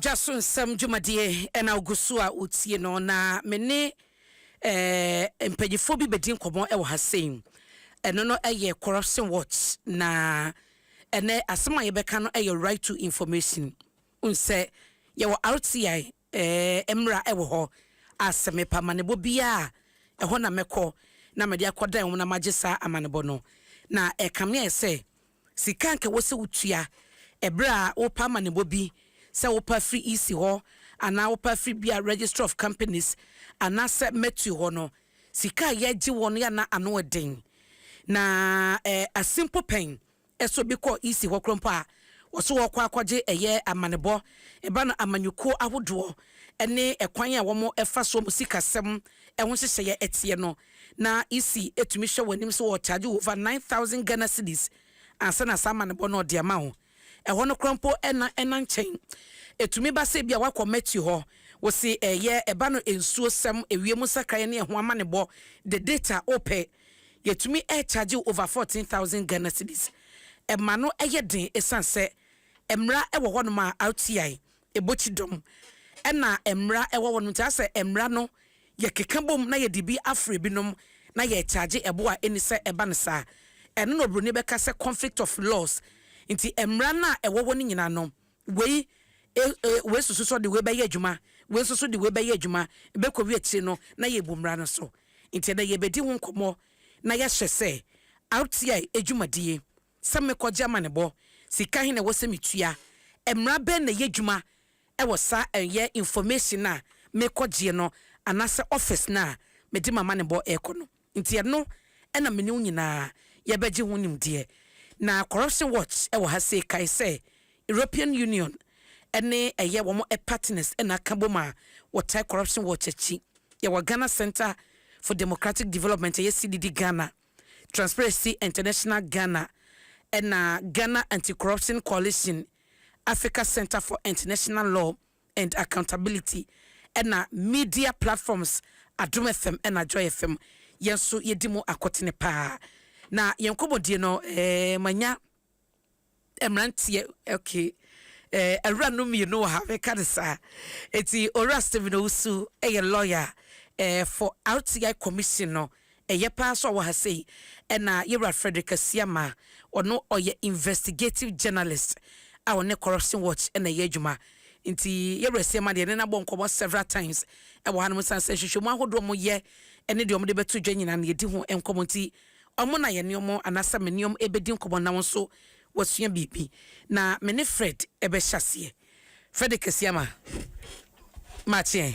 dwa so nsɛm dwumadie ɛna ogu so a wotie no na me ne eh, mpanyinfoɔ bi bɛdi nkɔmmɔ ɛwɔ ha sei ɛno no ɛyɛ corruption watch na ɛnɛ asɛm a yɛbɛka no ɛyɛ right to information Wohu sɛ yɛwɔ RTI eh, mmra wɔ hɔ a sɛ mepɛ amanebɔ biara a, ɛhɔ na mɛkɔ na mede akɔdan wɔn na magye saa amanebɔ no. Na ɛka me ayɛ sɛ sika a anka ɛwɔ sɛ wotua ɛberɛ a wopɛ amanebɔ bi, sɛ wopɛ afiri EC hɔ anaa wopɛ afiri bi a Registry of Companies anaasɛ Mertue hɔ no, sika a yɛgye wɔn yɛ a na ano yɛ den. Na eh, ase mpo pɛn so bi kɔ EC hɔ korɔ mpo a, wɔse wɔɔkɔ akɔgye ɛyɛ amanebɔ ba no amanyɔkuo ahodoɔ ne ɛkwan a wɔn fa soɔ mu sikasɛm ho nhyehyɛeɛ ɛteɛ no na EC tumi hwɛ wɔn anim sɛ wɔɔkyagye wo over nine thousand Ghana cedis ansa na saa amanebɔ no ɔde ama wo ɛhɔ no korɔ mpo ɛna ɛna nkyɛn ɛtumi ba sɛ ebia wakɔ Matthew hɔ wɔse ɛyɛ ɛba no nsuo sɛm, ɛwiem nsakraeɛ ne ɛho amanebɔ the data wopɛ. Yɛtumi charge wo over fourteen thousand Ghana cedis. Ɛma no yɛ den ɛsiane sɛ mmara wɔ hɔnom a RTI bɔ kyidɔm ɛna mmara wɔ hɔnom nti asɛ mmara no yɛkeka bom na yɛde bi afrɛ binom na yɛ charge ɛbo a ɛnni sɛ ɛba no saa. Ɛno na obroni bɛka sɛ conflict of laws nti mmara no a ɛwɔ hɔ no nyinaa no Wei, e, e, wei nso so sɛ ɔde wei bɛyɛ adwuma, wei nso so de wei bɛyɛ adwuma, ɛbɛkɔwie akyire no na yɛabu mmara no so. Nti ɛnnɛ yɛrebɛdi ho nkɔmmɔ na yɛahyɛ sɛ RTI adwumadie, sɛ mekɔgye amanebɔ, sika he na ɛwɔ sɛ metua, mmara bɛn na ɛyɛ adwuma wɔ saa ɛyɛ information no a mekɔgyeɛ no anaasɛ office no a mede m'amanebɔ rekɔ no. Nti ɛno na me ne wo nyinaa yɛbɛgye ho nimdeɛ. Na Corruption Watch wɔ ha sei kae sɛ European Union ne ɛyɛ wɔn partners na aka bom a wɔtae Corruption Watch akyi. Yɛwɔ Ghana Centre for Democratic Development, ɛyɛ CDD Ghana, Transparency International Ghana ɛna Ghana Anti-Corruption Coalition, Africa Centre for International Law, and accountability ɛna media platforms Adom FM ɛna Joy FM yɛn nso yɛdi mu akotene paa na yɛn nkɔmmɔdie no ɛɛ manya mmeranteɛ okay ɛɛ awura no mmienu wɔ ha mɛka ne saa eti owura Stephen Owusu ɛyɛ lawyer ɛɛ for RTI commission no Ɛyɛ paa sɛ ɔwɔ ha sei. Ɛna yɛn wura Frederick Asiamah, ɔno ɔyɛ investigative journalist a ɔne Corruption Watch na ɛyɛ adwuma. Nti yɛn wura Asiamah deɛ yɛne no abɔ nkɔmmɔ several times wɔ hanom ɛsiane sɛ nhwehwɛmu ahodoɔ a wɔyɛ ne deɛ wɔde bɛto dwa nyinaa no yɛdi ho nkɔmmɔ nti wɔn na yɛne wɔn anaasɛ mene wɔn ɛbɛdi nkɔmmɔ na wo nso wasua biribi na me ne Fred ɛbɛhyɛ aseɛ. Frederick Asiamah, makye ɛ.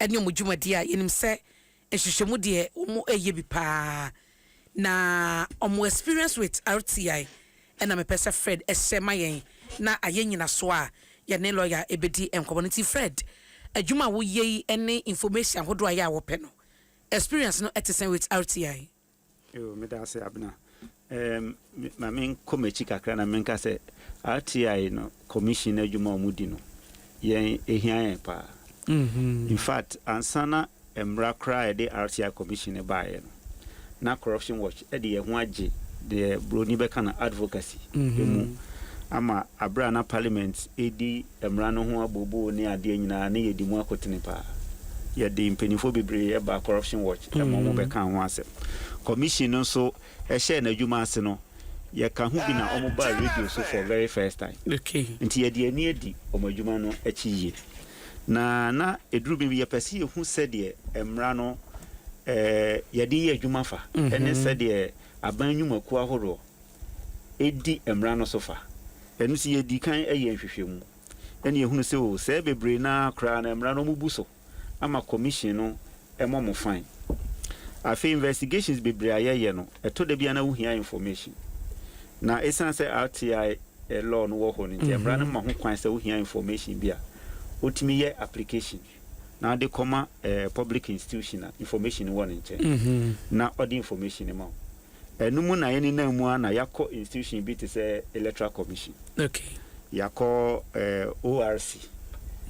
ɛne wɔn dwumadie a yɛnim sɛ nhwehwɛmu deɛ wɔn reyɛ bi paa na wɔn experience with RTI ɛna mepɛ sɛ Fred ɛhyɛ ma yɛn na ayɛ nyinasoɔ a yɛne lawyer ɛbɛdi nkɔmmɔ no nti Fred adwuma a woyɛ yi ɛne information ahodoɔ a yɛ a wɔpɛ no experience no ɛte sɛn with RTI? Yoo meda ase Abena. Ɛɛm me ma me nkɔ m'akyi kakra na menka sɛ RTI no commission adwuma a wɔdi no yɛn ɛhia yɛn paa. In fact ansa na mmra koraa a ɛde RTI commission no baeɛ no na Corruption Watch de yɛn ho agye deɛ broni bɛka no advocacy mu ama aberɛ a na parliament ɛredi Mmara no ho abooboo ne adeɛ nyinaa ne yɛdi mu akotene paa. Yɛde mpaninfoɔ bebree baa Corruption Watch ma wɔn bɛkaa ho asɛm. Commission no nso hyɛɛ n'adwuma ase no, yɛka ho bi na wɔn baa radio so for very first time. Nti yɛde ani adi wɔn adwuma no akyi yie. Na na ɛduru bem yɛpɛ sɛ yɛhu sɛdeɛ mmara no yɛde yɛ adwuma fa ne sɛdeɛ aban nnwumakuo ahoroɔ edi mmara no so fa. Ɛno nti yedii kan yɛɛ nhwehwɛmu, na yehunu sɛ oo, sɛɛ bebree no ara koraa na mmara no wɔabubu so ama Commission no mmɔ mo fine. Afei investigations bebree a yɛyɛ no, ɛtɔ da bi a na wohia information. Na esiane sɛ RTI law no wɔ hɔ no nti, mmara no ma ho kwan sɛ wohia information bi a, wotumi yɛ application na wode kɔma public institution a information no wɔ ne nkyɛn, na ɔde information no ma wo. Ɛno mu na yɛnenam mu ara na yɛakɔ institution bi te sɛ Electoral Commission. Okay. Yɛakɔ eh, ORC.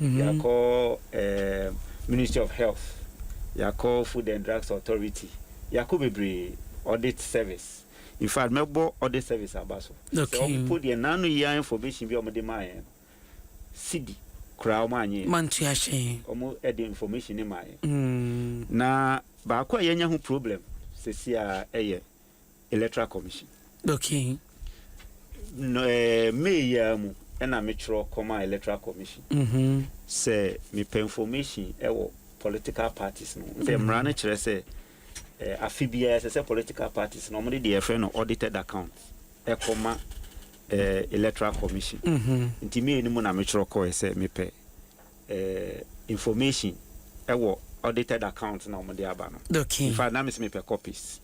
Mm-hmm. Yɛakɔ eh, Ministry of Health. Yɛakɔ Food and Drugs Authority. Yɛakɔ bebree. Audit Service. In fact, mɛbɔ Audit Service aba so. Okay. Sɛ wɔpo deɛ nano yia information bi a wɔde maa yɛn no. Sidi koraa ɔmo anyɛ yɛn. Mantua hyɛn. Ɔmo de information no maa yɛn. Na baako a yɛanya ho problem sɛsi a ɛyɛ electoral commission. Okay. No ɛɛ May yi ara mu ɛna me twerɛ kɔmaa electoral commission. Mm-hmm. Sɛ mepɛ information ɛwɔ political parties no ho. Sɛ mmara no kyerɛ sɛ. Afe biara ɛsɛ sɛ political parties no wɔde deɛ yɛfrɛ no audited account ɛkɔ ma electoral commission. Nti me anim na metwerɛ kɔɛ sɛ mepɛ information ɛwɔ audited account na wɔde aba no. In fact na mese mepɛ copies.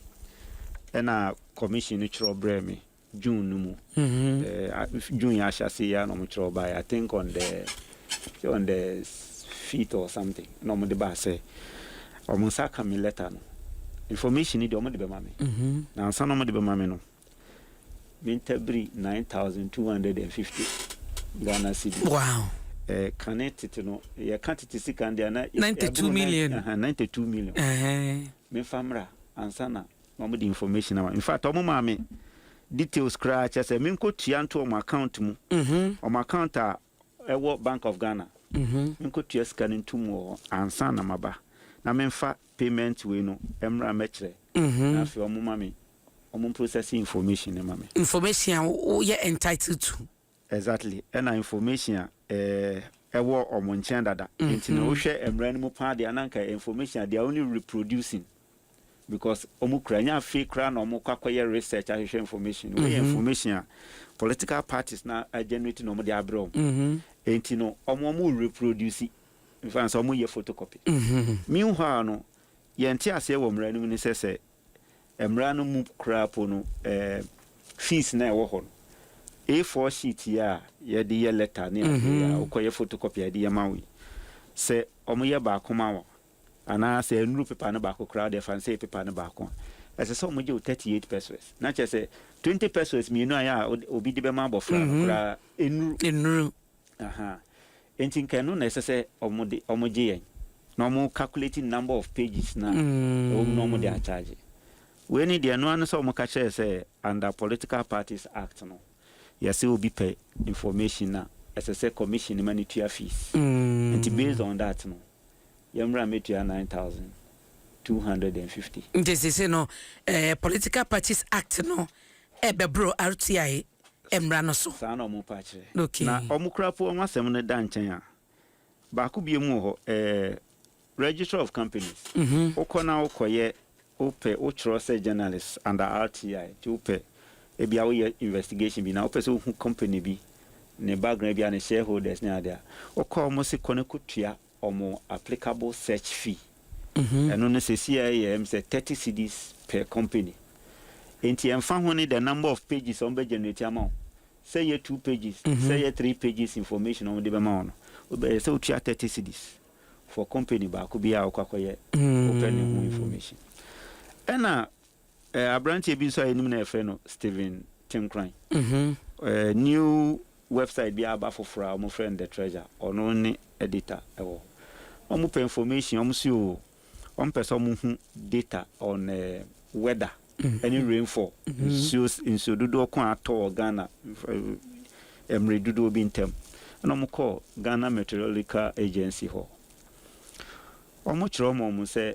Ɛna commission no twerɛ brɛɛ me. June no mu. Ɛɛ June yɛ ahyɛase yi ara na wɔkyerɛw bae. I think on the sɛ on the fifth or something na wɔde baa sɛ wɔn nsa aka me letter no. Information ni deɛ wɔde bɛma me. Na ansa na wɔde bɛma me no, me ntabiri nine thousand two hundred and fifty Ghana cedi. Wow. Eh, kane tete no yɛka tete sika no deɛ na 92 million. Uh, 92 million. Uh-huh. Mefa mmra ansa na na wɔde information ama me infact wɔn maa me details koraa kyerɛ sɛ menkɔ tua nto wɔn account mu wɔn account a ɛwɔ bank of Ghana menkɔ tua sika no nto mu wɔ hɔ ansa na maba na menfa payment wei no mmra mɛkyerɛ na afei wɔn ma me wɔn processing information no ma me. information a woyɛ entitled to. Exactly ɛna information a ɛwɔ ɔmo nkyɛn dada nti no wo hwɛ mmra no mu paa deɛ na nka information a they are only reproducing because ɔmo kura ɛnyɛ afei koraa na ɔmo kɔ akɔyɛ research ahwehwɛ information wei yɛ information a political parties na generate na ɔmo de abrɛ ɔmo nti no ɔmo ɔmo reproduce nfa nsa ɔmo yɛ photocopy meanwhile no yɛn te aseɛ wɔ mmra no mu ne sɛ sɛ Mmara no mu koraa mpo no, fees no a ɛwɔ hɔ no, A4 sheet yi a yɛde yɛ lɛta ne ade yi a wokɔyɛ photocopy a yɛde yɛ ma wo yi, sɛ wɔyɛ baako ma wo anaa sɛ ɛnnuru pepa no baako koraa a, wode fa no sɛ ɛyɛ pepa no baako a, ɛsɛ sɛ wɔgye wo thirty eight pesewas. Na kyerɛ sɛ, twenty pesewas mmienu a ɛyɛ a obi de bɛma abɔfra no koraa, ɛnnuru. Ahaa. Enti nka ɛno na ɛsɛ sɛ wɔn de, wɔn gye yɛn. Na wɔn calculate number of pages no a ɛwɔ mu na wɔn de acharge. Wei ne deɛ, ɛno ara ne sɛ wɔn ka kyerɛɛ sɛ under political parties act no, yɛse obi pɛ information no a, ɛsɛ sɛ commission no ma no tua fees. Enti based on that no, yɛn mmra mmɛtua nine thousand two hundred and fifty. Nti sese no, eh, political parties act no ɛbɛboro RTI. mmara no so. Saa na wɔpa kyerɛ. Okay. Na wɔkora po wɔn asɛm no da nkyɛn a, baako biom wɔ hɔ, ɛɛ, Registrar of Companies. Mhm. Wokɔ na wokɔyɛ, wopɛ, wotwerɛ sɛ journalist under RTI, nti wopɛ, ebia woyɛ investigation bi na wopɛ sɛ wohu company bi, ne background, ebia ne shareholders ne ade a, wokɔ a wɔse kɔ na kɔtua wɔn applicable search fee, ɛno no seesei a ɛyɛ sɛ thirty cedis per company. Enti ɛmfa ho ne the number of pages a wɔbɛ generate ama wo, sɛ ɛyɛ two pages, sɛ ɛyɛ three pages information a wɔde bɛma wo no, ɛyɛ sɛ wotua thirty cedis for company baako biara a wokɔ akɔyɛ wopɛ ne ho information. Ɛna Aberanteɛ bi nso a yɛnim no a yɛfrɛ no Stephen Tenkoran, new website bi aba foforɔ a wɔfrɛ no The Treasure, ɔno ne editor wɔ hɔ. Wɔpɛ information, wɔse o, wɔpɛ sɛ wɔhu data on weather ɛne rainfall, nsuo nsuo dodoɔ ko a atɔ wɔ Ghana mmerɛ dodoɔ bi ntam. Ɛna wɔkɔɔ Ghana Meteorological Agency hɔ, wɔkyerɛ wɔn sɛ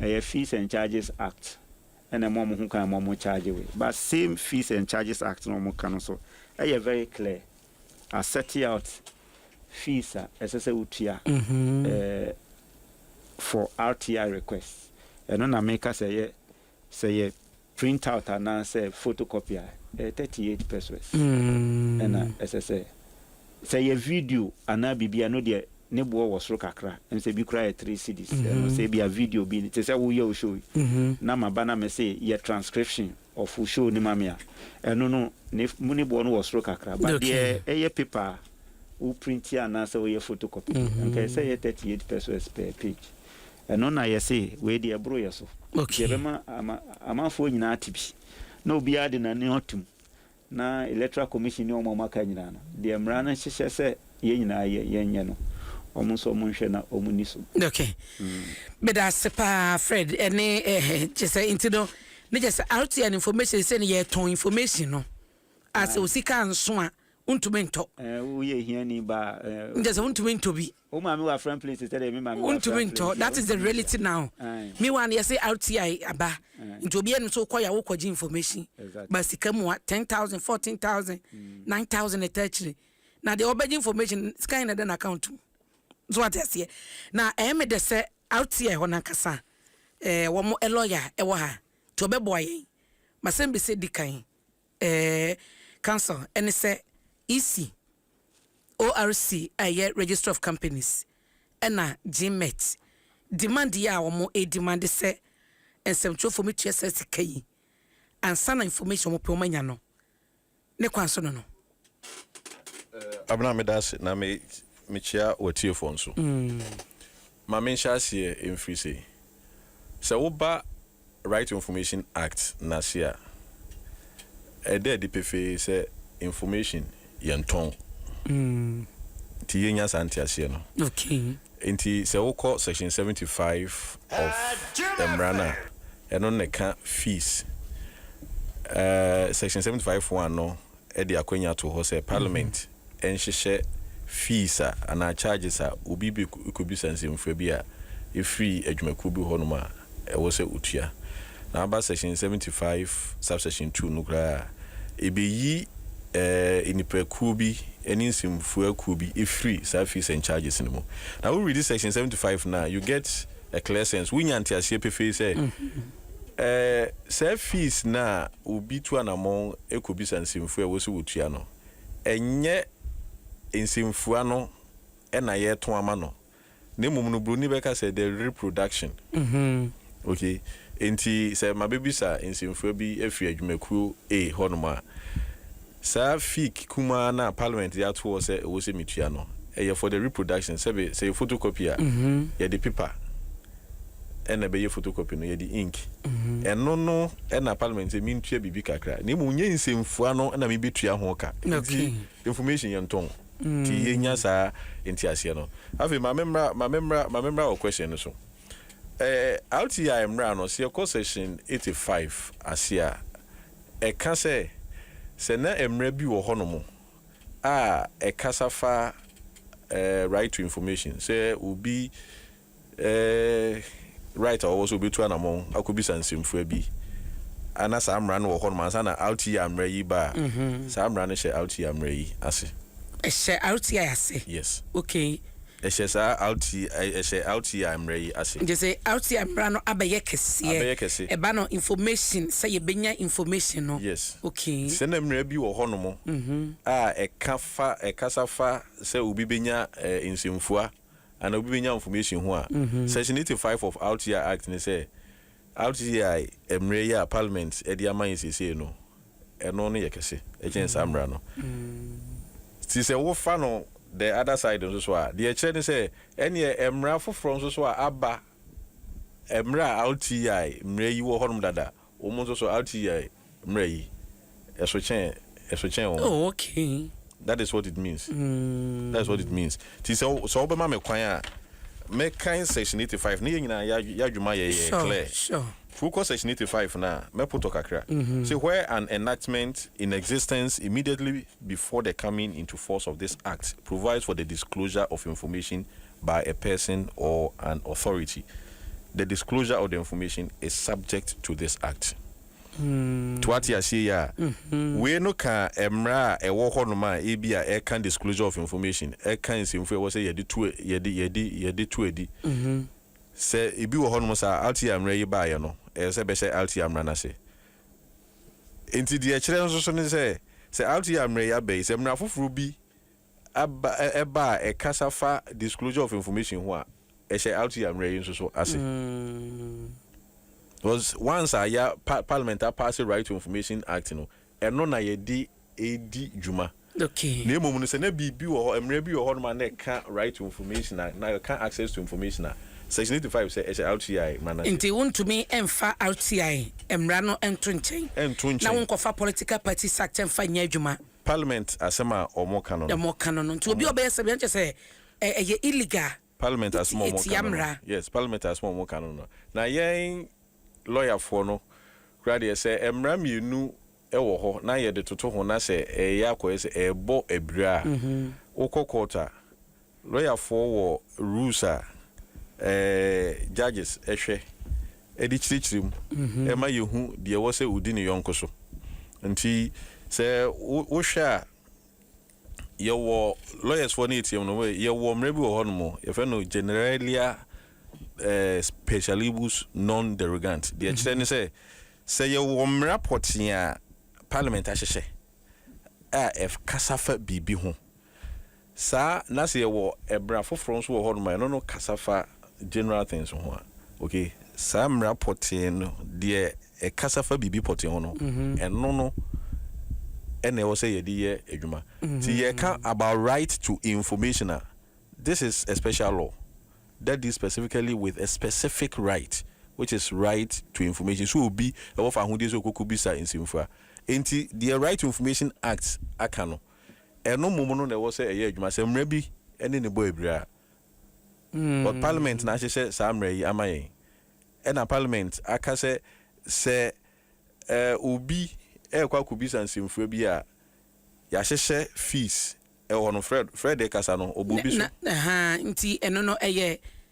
Ɛyɛ Fees and Charges Act ɛna ɛma wɔn ho kwan ma wɔn charge wei but same Fees and Charges Act na wɔka no so ɛyɛ very clear a set out fees a ɛsɛ sɛ wotua ɛɛ for RTI request ɛno na meka sɛ ɛyɛ sɛ yɛ Printout anaasɛ photocopy a, ɛyɛ thirty eight pesos na ɛsɛ sɛ. Sɛ ɛyɛ video anaa biribi a, ɛno deɛ ne boɔ wɔ soro kakra, ɛm sɛ ebi koraa yɛ three cedis, ɛno sɛ ebia video bi, te sɛ woyɛ wo show yi, na maba na mese yɛ transcription of wo show no ma me a, ɛno no ne ne boɔ no wɔ soro kakra, but deɛ ɛyɛ paper a wo print anaasɛ woyɛ photocopy deɛ, anka ɛsɛ sɛ ɛyɛ thirty eight pesos per page, Ɛno na yɛse wei deɛ ɛboro yɛ so. Deɛ ɛbɛma ama amanfoɔ nyinaa ate bi na obiara de n'ano atom na Electoral Commission ne wɔn a wɔaka nyinaa no, deɛ mmara no hyehyɛ sɛ yɛn nyinaa yɛ, yɛnyɛ no, wɔn nso wɔnhwɛ na wɔnni so. Ok. Meda ase paa Fred ne ɛhɛ kyerɛ sɛ nti no ne kyerɛ sɛ RTI no information sei no yɛtɔn information no a sɛ osika nso a Wontumi ntɔ. Eh, woyɛ hiani ba. Eh, Nkyɛ sɛ wontumi ntɔ bi. Wo maame wɔ afran plate sɛ deɛ me maame wɔ afran plate. Wontumi ntɔ. That is the reality now. Me wa no yɛse RTI aba. Nti obi anim so wokɔ ya wokɔ gye information. Ba sika mu a 10,000, 14,000, 9,000 ɛta akyire. Na deɛ ɔbɛgye information sika yɛ na ɛda n'account mu. So wate aseɛ. Na ɛyɛ me dɛ sɛ RTI hɔ nankasa eh, wɔn lawyer ɛwɔ ha. Nti ɔbɛboa yɛn. Masɛm bi sɛ di kan. Ɛɛ, Council ne sɛ EC, ORC a ɛyɛ Registry of Companies ɛna GMET demand yi a wɔn redemande sɛ nsɛmtwerɛfoɔ mɛtua saa sika yi ansa na information a wɔn pɛ wɔn anya no ne kwan so no no. Abena meda ase na me mekyea w'atiefoɔ nso. Ma menhyɛ aseɛ mfiri sei, sɛ woba Right to Information Act no ase a, ɛda adi pefee sɛ information yɛ ntɔn. Nti yɛnya saa nteaseɛ no. Nti sɛ wokɔ section seventy five of mmara no a, ɛno na ɛka fees. Section seventy five one no de akwanya too hɔ sɛ Parliament nhyehyɛ fees a anaa charges a obi bɛkɔbisa nsɛmfua bi a ɛfiri adwumakuo bi hɔnom a ɛwɔ sɛ ɔtua. Na aba section seventy five subsection two no koraa a, ɛbɛyi nnipakuo bi ne nsɛmfua kuo bi firi saa fees and charges no mu. Na wo readi section seventy five no a, you get a clear sense, wonya nteaseɛ pefee sɛ, Ɛɛ, saa fees no a obi tu anammɔn kɔbisa nsɛmfua a ɛwɔ sɛ wɔtua no, ɛnyɛ nsɛmfua no na yɛto ama no, na mmom no buroni bɛka sɛ the reproduction. Ok, enti sɛ mabɛbisa nsɛmfua bi afiri adwumakuo A hɔnom a, Saa fee kumaa no a parliament de ato hɔ sɛ ɛwɔ sɛ metua no, ɛyɛ for the reproduction, sɛbe sɛ yɛ photocopy a, yɛde paper na ɛbɛyɛ photocopy no, yɛde ink. Ɛno no na parliament sɛ mentua biribi kakra, na mmom nyɛ nsɛmfua no na mebɛtua ho ka. Enti information yɛ ntɔn, nti yɛnya saa nteaseɛ no. Afei ma me mmra, ma me mmra, ma me mmra wɔ question no so. Eh, RTI mmra no, sɛ yɛkɔ section 85 ase a, Ɛka sɛ, Sɛ na mmara bi wɔ hɔnom a ɛkasa fa right to information, sɛ obi right a ɔwɔ sɛ obetu anamɔn akɔbisa nsɛmfua bi a na saa mmara no wɔ hɔnom ansa na RTI mmara yi ba a, saa mmara no hyɛ RTI mmara yi ase. Ɛhyɛ RTI ase? Yes. Okay. Hyɛ saa RT hyɛ RTI mmara yi ase. Gye sɛ RTI mmara no abɛyɛ kɛseɛ. Abɛyɛ kɛse. Ɛba no information sɛ yɛbɛnya information no. Yes. Okay. Sɛ na mmara bi wɔ hɔnom a ɛka fa ɛkasa fa sɛ obi bɛnya nsɛmfua anaa obi bɛnya information ho a, Section eighty five of RTI Act ne sɛ RTI mmere yi a Parliament de ama yɛn seesei no, ɛno no yɛ kɛse kyɛn saa mmara no. Nti sɛ wofa no the other side nso so a, deɛ ɛkyerɛ ne sɛ, ɛnneɛ mmara foforɔ nso so a aba mmere a RTI mmere yi wɔ hɔnom dada, wɔn nso so RTI, Mmerɛ yi, ɛso kyɛn, ɛso kyɛn wɔn. Oh, okay. That is what it means. Mm. That is what it means. Ti sɛ sɛ ɔbɛma me kwan a, mɛkan section eighty five ne yɛn nyinaa yɛ adwuma yɛ yɛ clear. Sure, sure. Wokɔ section eighty five na mɛpotɔ kakra. Mm-hmm. Say where an enactment in existence immediately before the coming into force of this act provides for the disclosure of information by a person or an authority, the disclosure of the information is subject to this act. To ate aseɛ yi a, wei no ka mmara a ɛwɔ hɔnom a ebia ɛka disclosure of information, ɛka nsɛmfua a ɛwɔ sɛ yɛde to yɛde yɛde yɛde to adi. Sɛ ebi wɔ hɔnom saa a, RTI mmara yi baeɛ no, ɛsɛ sɛ ɛbɛhyɛ RTI mmara no ase. Enti deɛ ɛkyerɛ nso so ne sɛ, sɛ RTI mmara yi aba yi, sɛ mmara foforɔ bi aba ɛ ɛba a ɛkasa fa disclosure of information ho a, ɛhyɛ RTI mmerɛ yi nso so ase. Because once a yɛ pa Parliament apaase Right to Information Act no, ɛno na yɛde redi dwuma. Okay. Na mmom no, sɛ na biribi wɔ hɔ, mmerɛ bi wɔ hɔnom a na ɛka Right to Information a, na ɛka Access to Information a, Section 85 sɛ ɛhyɛ RTI mmara no ase. Nti wontumi mfa RTI mmara no nto nkyɛn, Ɛnto na nkyɛn. wonkɔfa Political Parties Act mfa nyɛ adwuma. Parliament asɛm a ɔmo ka no no. Ɔmo ka no no nti obi a ɔbɛyɛ sɛbi a nkyɛ sɛ ɛyɛ illegal. Parliament asɛm a ɔmo ka no no yes parliament asɛm a ɔmo ka no no na yɛn lawyer foɔ no kura deɛ sɛ mmra mmienu ɛwɔ hɔ na yɛde toto ho na sɛ ɛyɛ akɔyɛ sɛ ɛɛbɔ abira a wokɔ court a Lɔyafoɔ wɔ rules a judges hwɛ de kyerɛkyerɛ mu ma yɛhu deɛ ɛwɔ sɛ ɔdi ne yɔnko so. Nti sɛ wohwɛ a, yɛwɔ lawyers foɔ no yɛtiam no, yɛwɔ mmerɛ bi wɔ hɔ nom, yɛfrɛ no generalia specialibus non derogant. Deɛ ɛkyerɛ ne sɛ, sɛ yɛwɔ mmara pɔtee a parliament ahyehyɛ a ɛkasa fa biribi ho, Saa, na sɛ yɛwɔ ɛbra foforɔ nso wɔ hɔnom a, ɛno no kasa fa general things ho a, ok? Saa mmara pɔtee no, deɛ ɛkasa fa biribi pɔtee ho no, ɛno no na ɛwɔ sɛ yɛde yɛ adwuma. Nti yɛreka about right to information a, this is a special law that deals specifically with a specific right which is right to information. Sɛ obi wɔ fahodie sɛ ɔkɔkɔbisa nsɛmfua, enti deɛ Right to Information Act aka no, Ɛno mmom no na ɛwɔ sɛ ɛyɛ adwuma sɛ mmara bi ne ne bɔ abira. But Parliament na ahyehyɛ saa mmara yi ama yɛn. Ɛna Parliament aka sɛ sɛ obi rekɔ akɔbisa nsɛmfua bi a, yɛahyehyɛ fees wɔ hɔ no. Fred, Fred rekasa no, ɔbuu bi so. Ahaa, nti ɛno no ɛyɛ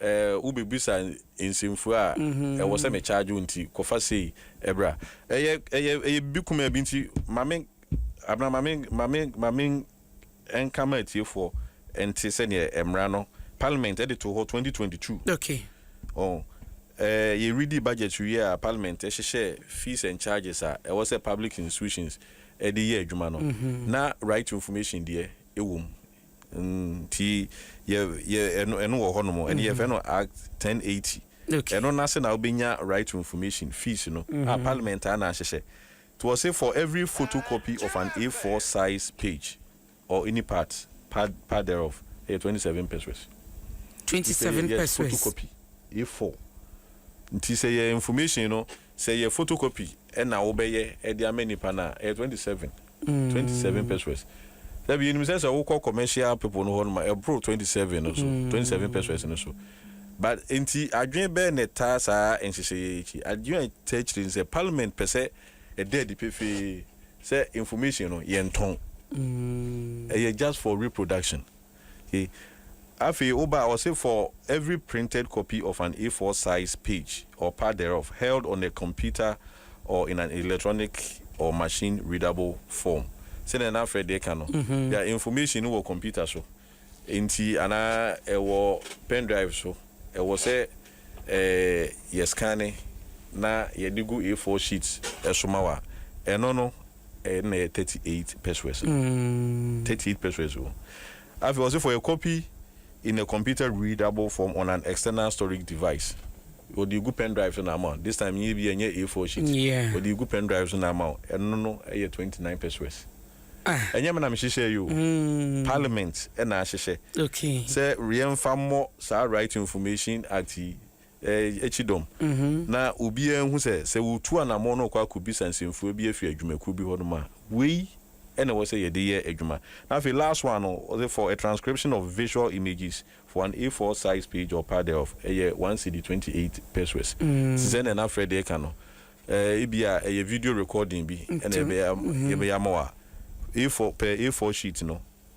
Eh, wobebisa nsɛmfua a ɛwɔ sɛ me charge wo nti, kɔfa sei bra. Ɛyɛ, ɛyɛ, ɛyɛ biribi kumaa bi nti ma me, Abena, ma me, ma me, ma me nka ma atiefoɔ nte sɛdeɛ mmara no Parliament de too hɔ 2022. Okay. Oh, eh, yɛ redi budget wie a Parliament hyehyɛɛ fees and charges a ɛwɔ sɛ public institutions de yɛ adwuma no, na right to information deɛ ɛwɔ mu. nti yɛ yɛ ɛno ɛno wɔ hɔnom ɛne mm-hmm. yɛfɛ no act ten eighty ɛno n'ase na wobɛnya right to information fees no a mm-hmm. parliament a na ahyehyɛ to ɔse for every photocopy of an a four size page or any part part part thereof ɛyɛ twenty seven pesos. twenty seven pesos photocopy a four nti sɛ yɛ information no. Sɛ ɛyɛ photocopy na wo bɛ yɛ de ama nipa no a, ɛyɛ twenty seven, twenty seven pesewas. Dabi, yɛ nim sɛ sɛ wo kɔ commercial people no hɔ nom a, ɛboro twenty seven no so, twenty seven pesewas no so. But nti adwene bɛɛ na ɛtaa saa nhyehyɛeɛ yi akyi? Adwene a ɛtaa akyire ne sɛ parliament pɛ sɛ ɛda adi pefee sɛ information no yɛntɔn. Ɛyɛ just for reproduction. He Afei wo ba, ɔse for every printed copy of an A4 size page or part thereof held on a computer or in an electronic or machine readable form, sɛdeɛ na Freddy ka no, their information no wɔ computer so nti anaa ɛwɔ pendrive so, ɛwɔ sɛ ɛɛ yɛ scanne na yɛde gu A4 sheet so ma wo a, ɛno no. Ɛyɛ no na ɛyɛ thirty eight pesewas no thirty eight pesewas o afei ɔsi for a copy in a computer readable form on an external storage device ɔde gu pen drive so na ama this time yɛ bi ɛnyɛ a four sheet ɔde gu pen drive so na ama ɛno no ɛyɛ twenty nine pesewas ɛnyɛ mi na mi hyehyɛ yi o parliament ɛna ahyehyɛ sɛ yɛn fa mmɔ saa right information act yi. akyi dɔm, na obiara nhu sɛ, sɛ wɔtu anammɔn na wɔkɔ akɔbisa nsɛmfua bi afiri adwumakuo bi hɔnom a, wei na ɛwɔ sɛ yɛde yɛ adwuma. Na afei last one no, wɔse for a transcription of visual images for an A4 size page or part thereof, ɛyɛ one cedi twenty eight pesoes. Te sɛ nea na Fred reka no, ebia ɛyɛ video recording bi na yɛbɛyɛ ama wo a, A4, per A4 sheet no,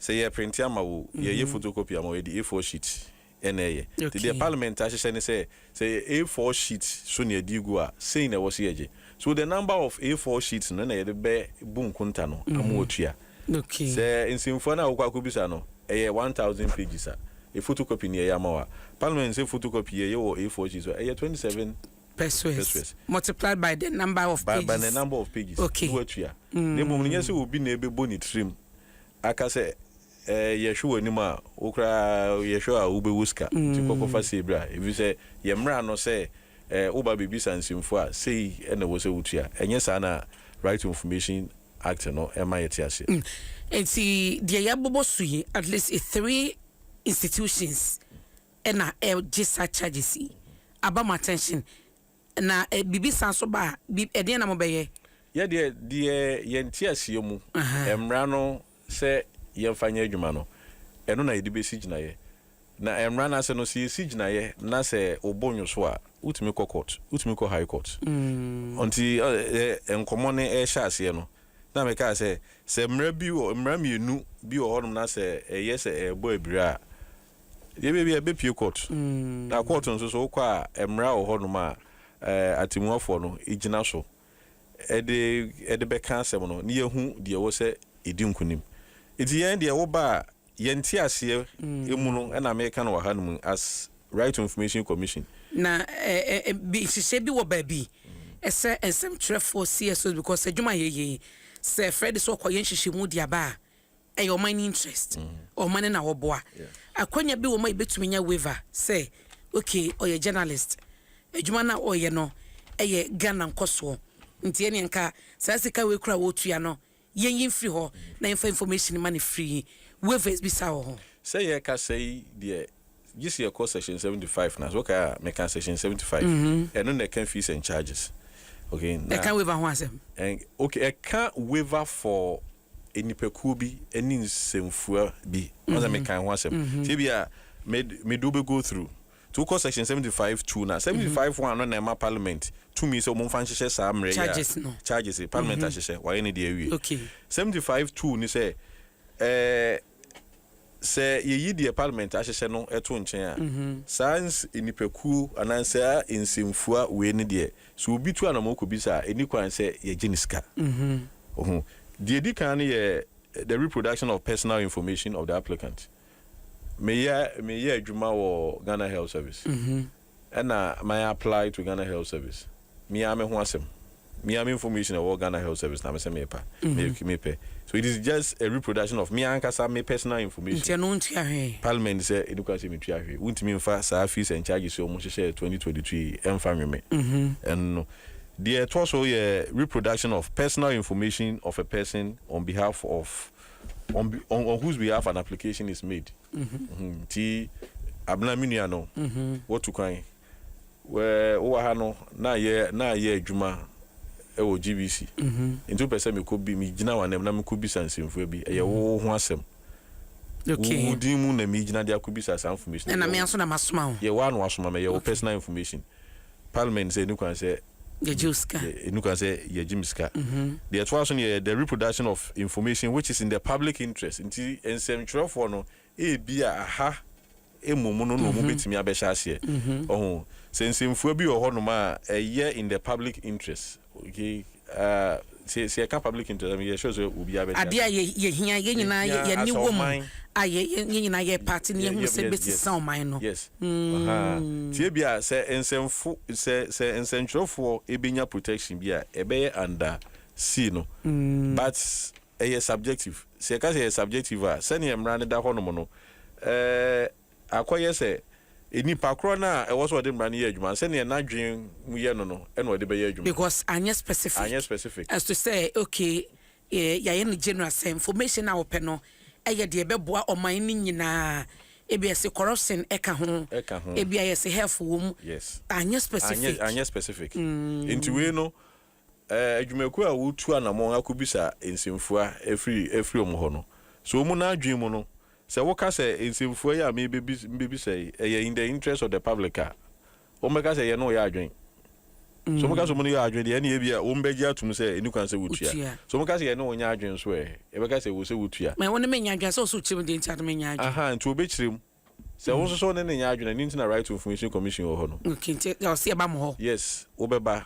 Sɛ yɛ printe ama wo o, yɛ yɛ photo copy ama wo yɛ de A4 sheet ɛna ɛyɛ. Nti deɛ parliament ahyehyɛ ne sɛ, sɛ yɛ A4 sheet so na yɛde regu a, sei na ɛwɔ sɛ yɛgye. So the number of A4 sheets no na yɛde bɛ bu nkonta no ama wɔatua. Sɛ nsɛmfua no a wokɔ akɔ bisa no, ɛyɛ one thousand pages a, yɛ photo copy na yɛyɛ ama wo a, parliament sɛ photo copy yɛyɛ wɔ A4 sheet so a, ɛyɛ twenty seven pesewas. Pesewas. Multiplied by the number of pages. By the number of pages na woatua. Na mmom no, nyɛ sɛ obi na ɛbɛbɔ ne tirim. aka sɛ eh yɛhwe w'anim a wo koraa yɛhwɛ wo a wobɛwu sika nti kɔ kɔfa sei bra ɛfisɛ yɛn mmara no sɛ eh woba bɛbisa nsɛmfua a sei na ɛwɔ sɛ wotua ɛnyɛ saa na Right to Information Act no ɛma yɛte aseɛ. Mm nti deɛ yɛabobɔ so yi at least three institutions ɛna ɛgye saa charges yi aba mo attention. Na biribi san so ba a, bi, ɛdeɛn na mobɛyɛ? Yɛ deɛ, deɛ yɛn nteaseɛ mu mmara no sɛ yɛmfa nyɛ adwuma no, ɛno na yɛde bɛsi gyinaeɛ. Na mmara no ase no, sɛ yɛsi gyinaeɛ na sɛ wo bo nnwo so a, wotumi kɔ court, wotumi kɔ High Court. Nti ɛ, nkɔmmɔ no rehyɛ aseɛ no, na mekaa sɛ, sɛ mmara bi wɔ, mmara mmienu bi wɔ hɔnom na sɛ ɛyɛ sɛ ɛrebɔ abira a, Deɛ ebia ebia bɛpue court. Na court nso so wokɔ a mmara wɔ hɔ nom a atemuafoɔ no gyina so de de bɛka asɛm no na yɛahu deɛ ɛwɔ sɛ ɛdi nkunim. Nti yɛn deɛ woba a yɛn nteaseɛ mu no na meka no wɔ ha nom as Right to Information Commission. Na nhyehyɛɛ bi wɔ baabi ɛsɛ nsɛmtwerɛfoɔ CSOs because adwuma a yɛyɛ yi sɛ Freddy sɛ ɔkɔyɛ nhyehyɛmu de aba a Ɛyɛ ɔman no interest, ɔman no na wɔboa. Akwanya bi wɔ mu a yɛbɛtumi anya waiver sɛ okay ɔyɛ journalist, adwuma no a ɔreyɛ no yɛ Ghana nkɔsoɔ nti ɛnneɛ nka saa sika wei koraa a ɔretua no yɛnyi mfiri hɔ na yɛmfa information ma no free. Waivers bi saa wɔ hɔ. Sɛ yɛrekasa yi deɛ gye sɛ yɛkɔ section seventy five no ase, wokae a meka section seventy five, ɛno na ɛka fees and charges okay na ɛka waiver ho asɛm. Okay ɛka waiver for nnipakuo bi ne nsɛmfua bi ɔn sɛ mekae ho asɛm nti ebia me me de wobɛ go through nti wokɔ section seventy five two na seventy five one no na ɛma parliament tumi sɛ wɔmfa nhyehyɛ saa mmerɛ yi a Charges no. charges yi parliament ahyehyɛ wɔayɛ ne deɛ awie Okay. seventy five two ne sɛ ɛɛ. Sɛ yeyi deɛ Parliament ahyehyɛ no to nkyɛn a, saa ns nnipakuo anaa saa nsɛmfua wei no deɛ, sɛ obi tu anamɔn kɔbisa a, ɛnni kwan sɛ yɛgye ne sika. Wo ho? Deɛ ɛdi kan no yɛ the reproduction of personal information of the applicant. Meyɛ, meyɛ adwuma wɔ Ghana Health Service. Ɛna my apply to Ghana health service me ara me ho asɛm me ara me information a ɛwɔ Ghana health service na me sɛ me pa me me pɛ so it is just a reproduction of me ankasa me personal information. Nti ɛno wontua hwee. Parliament sɛ ɛni kwan sɛ me tua hwee wontumi nfa saa fees and charges sɛ wɔn hyehyɛ twenty twenty two yi ɛnfa nwe me ɛno deɛ ɛtɔ so yɛ reproduction of personal information of a person on behalf of on on whose behalf an application is made. Nti Abena me nua no watu kwan wɛ wowɔ ha no na yɛ na yɛ adwuma ɛwɔ GBC nti wopɛ sɛ mekɔ bi megyina w'anam na mekɔ bisa nsɛmfua bi ɛyɛ wo ho asɛm wo din mu na megyina de akɔ bisa saa information na me nso na masoma wo yɛ wo ano asoma me yɛ wo personal information Parliament sɛ ɛnni kwan sɛ Yɛgye wo sika. yɛ, ɛnni kwan sɛ yɛgye me sika. Deɛ ɛtoa so no yɛ the reproduction of information which is in the public interest. Nti nsɛmtwerɛfoɔ no, ebia aha mmom no na wɔbɛtumi abɛhyɛ aseɛ. Ɔho? Sɛ nsɛmfua bi wɔ hɔnom a ɛyɛ in the public interest, Okay ah sɛ sɛ yɛka public interest a yɛ sure sɛ obiara bɛte ase. Adeɛ a yɛ yɛ hia yɛ nyinaa yɛ yɛ ani wɔ mu a yɛ yɛ yɛ nyinaa yɛ paate na yɛ hunu sɛ bɛsesa ɔman no. Yes ahaa nti hmm. Ebia sɛ nsɛmfo sɛ sɛ nsɛntwerɛfoɔ ɛbɛnya protection bi a ɛbɛyɛ under sea no hmm. but ɛyɛ subjective sɛ yɛka sɛ ɛyɛ subjective a sɛdeɛ mmara no da hɔ nom no ɛɛ. Eh, Akɔyɛ sɛ, nnipa korɔ no a ɛwɔ sɛ ɔde mmara no yɛ adwuma no, sɛdeɛ n'adwene mu yɛ no no na ɔde bɛyɛ adwuma. Because anyɛ specific. Anyɛ specific. As to sɛ, okay, yɛayɛ no general sɛ information a wɔpɛ no yɛ deɛ ɛbɛboa ɔman no nyinaa, ebia yɛse corruption ka ho, Ɛka ho. ebia yɛse health wɔ mu, Yes. anyɛ specific. Anyɛ, anyɛ specific. Nti wei no, Adwumakuo a wɔretu anammɔn akɔbisa nsɛmfua afiri wɔn hɔ no, sɛ wɔn no adwene mu no, sɛ woka sɛ nsɛmfua yi a merebɛbisa yi, ɛyɛ in the interest of the public a, wɔbɛka sɛ yɛne wo yɛ adwene. Sɛ wɔka sɛ wɔne wo yɛ adwene deɛ, ɛnneɛ ebia wɔbɛgye atom sɛ ɛnni kwan sɛ wotua. Sɛ wɔka sɛ yɛne wo nyɛ adwene nso ɛ? Yɛbɛka sɛ ɛwɔ sɛ wotua. Mɛ wo ne me nyɛ adwene a, sɛ ɛwɔ sɛ wokyerɛ mu deɛ nti a na menyɛ adwene. Aha, nti wɔbɛkyerɛ mu. Sɛ wo nso sɛ wo ne no nyɛ adwene a, ɛno nti na Right to Information Commission wɔ hɔ no. Okay, nti ɔse yɛba mo hɔ? Yes, wo bɛba,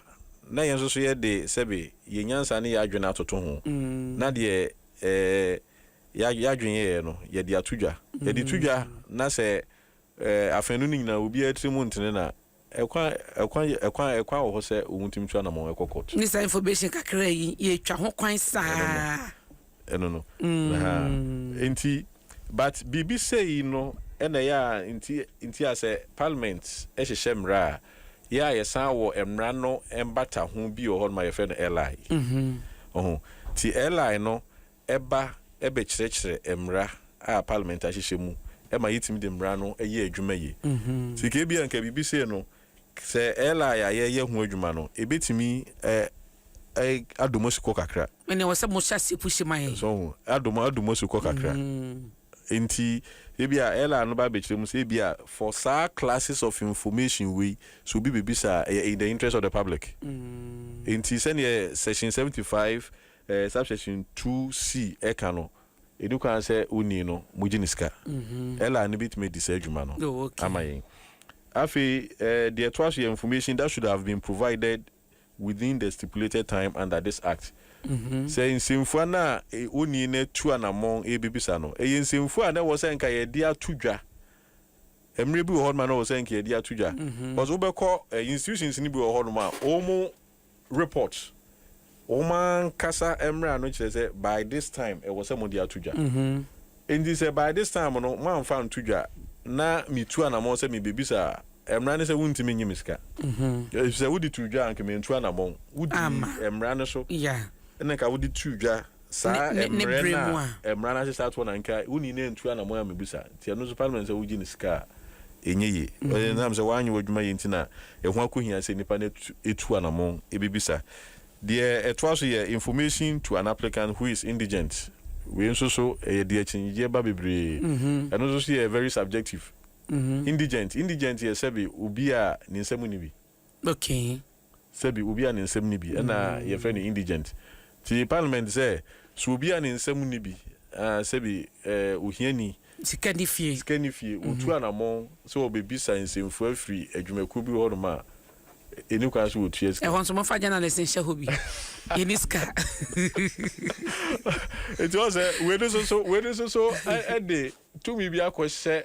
na yɛn nso so yɛ de sɛbe yɛn nyansa ne yɛn adwene atoto ho, na deɛ yɛ adwene yɛeɛ no, yɛde ato dwa. Yɛde to dwa na sɛ afanu no nyinaa obiara tirim ntene no a, Ɛkwan ɛkwan ɛkwan ɛkwan wɔ hɔ sɛ wɔn tumi tu anamɔn ɛkɔ court. Ne saa information kakra yi yɛtwa ho kwan saa. Ɛno no. Ɛha nti but biribi sei no ɛna ɛyɛ a nti nti a sɛ parliament ɛhyehyɛ mmara a yɛ a yɛsan wɔ mmara no mbata ho bi wɔ hɔ nom a yɛfrɛ no LI. Ɔho nti LI no ɛba bɛkyerɛkyerɛ mmara a Parliament ahyehyɛ mu ma yɛtumi de mmara no yɛ adwuma yie. Nti nka ebia nka biribi sei no, sɛ LI a yɛreyɛ ho adwuma no, ɛbɛtumi adɔ mo asukɔ kakra. Ɛnna ɛwɔ sɛ mohyɛ aseɛ pushi ma yɛn. So ho? Adɔ mo adɔ mo asukɔ kakra. Nti ebia LI no ba bɛkyerɛ mu sɛ ebia for saa classes of information wei, sɛ obi bɛbisa a, ɛyɛ in the interest of the public. Nti sɛdeɛ section seventy five Eh, subsection two C ɛka no, ɛni kwan sɛ onii no mogye ne sika. LR no bɛtumi adi saa dwuma no Oh, okay. ama yɛn. Afei, eh, deɛ ɛtoa so yɛ information that should have been provided within the stipulated time under this Act. Sɛ nsɛmfua no a e, onii no atu anammɔn rebɛbisa no, ɛyɛ nsɛmfua a na ɛwɔ sɛ nka yɛde ato dwa. Mmerɛ bi wɔ hɔnom a na ɛwɔ sɛ nka yɛde ato dwa. Because wobɛkɔ eh, institutions no bi wɔ hɔnom a, wɔn Report, Wɔn ankasa mmara no kyerɛ sɛ by this time ɛwɔ sɛ mode ato dwa. Enti sɛ by this time no moamfa anto dwa na metu anammɔn sɛ mebebisa a, mmara ne sɛ wontumi nnye me sika. Efisɛ wode too dwa a, anka mantu anammɔn. Wodii mmara no so na anka wode too dwa. Saa mmerɛ no a mmara no ahyehyɛ atoɔ no anka wo nii no antu anamɔn a mebisa nti ɛno nso parliament sɛ wogye no sika a ɛnyɛ yie ɛnam sɛ wanyɛ w'adwuma yie nti na ɛho akɔhia sɛ nipa no ɛtu anamɔn ɛbɛbisa deɛ ɛtoa so yɛ information to an applicant who is indigent wei nso so ɛyɛ deɛ akyinnyegyeɛ ba bebree ɛno nso so yɛ very subjective indigent indigent yɛ sɛbe obi a ne nsa mu nni bi. Okay. Sɛbi obi a ne nsɛm nni bi ɛna yɛfrɛ no indigent. Nti parliament sɛ, so obi a ne nsɛm nni bi, aah sɛbi eh ohiani, Sika nni fie. sika nni fie, wɔtu anamɔn sɛ wɔbɛbisa nsɛmfua firi adwumakuo bi hɔ nom a, ɛnni kwan sɛ wɔtua sika. Ɛhɔ nso momfa journalist nhyɛ hɔ bi. Yɛnni sika. Nti woahu sɛ wei no nso so, wei no nso so ɛde tumi bi akɔhyɛ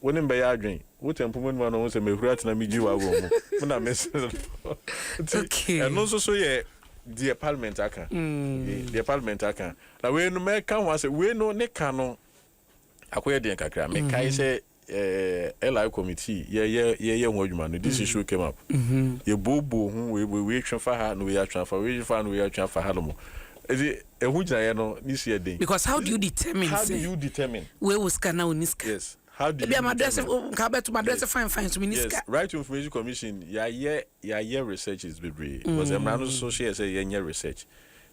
Wo ne me bɛyɛ adwen. Wo tɛ mpoma numa na ɔhu sɛ mɛhuri atena me gyiwa wɔ mu. Me na me se no. Nti ɛno nso so yɛ deɛ parliament aka. Deɛ parliament aka. Na wei no mɛka ho asɛ, wei no ne ka no akɔyɛ deɛn kakra. Me kae sɛ eh, LI committee yɛyɛ yɛyɛ ho adwuma no, this issue came up. Yɛbuobuo ho, wei wei wei twe fa ha na wei atwe afa, wei twe fa ha na wei atwe afa hanom. Nti. Ɛho gyinaeɛ no ne su yɛ den. Because how do you determine How do sɛ you determine? wei wɔ sika anaa ɔnni sika? Yes, how do Ebia you m'adrɛse determine? o, nka wobɛto m'adrɛse Yes, fine fine so menni yes, sika. Right to Information Commission, yɛayɛ yɛayɛ researches bebree because mmara no nso hyɛ yɛn sɛ yɛnyɛ research.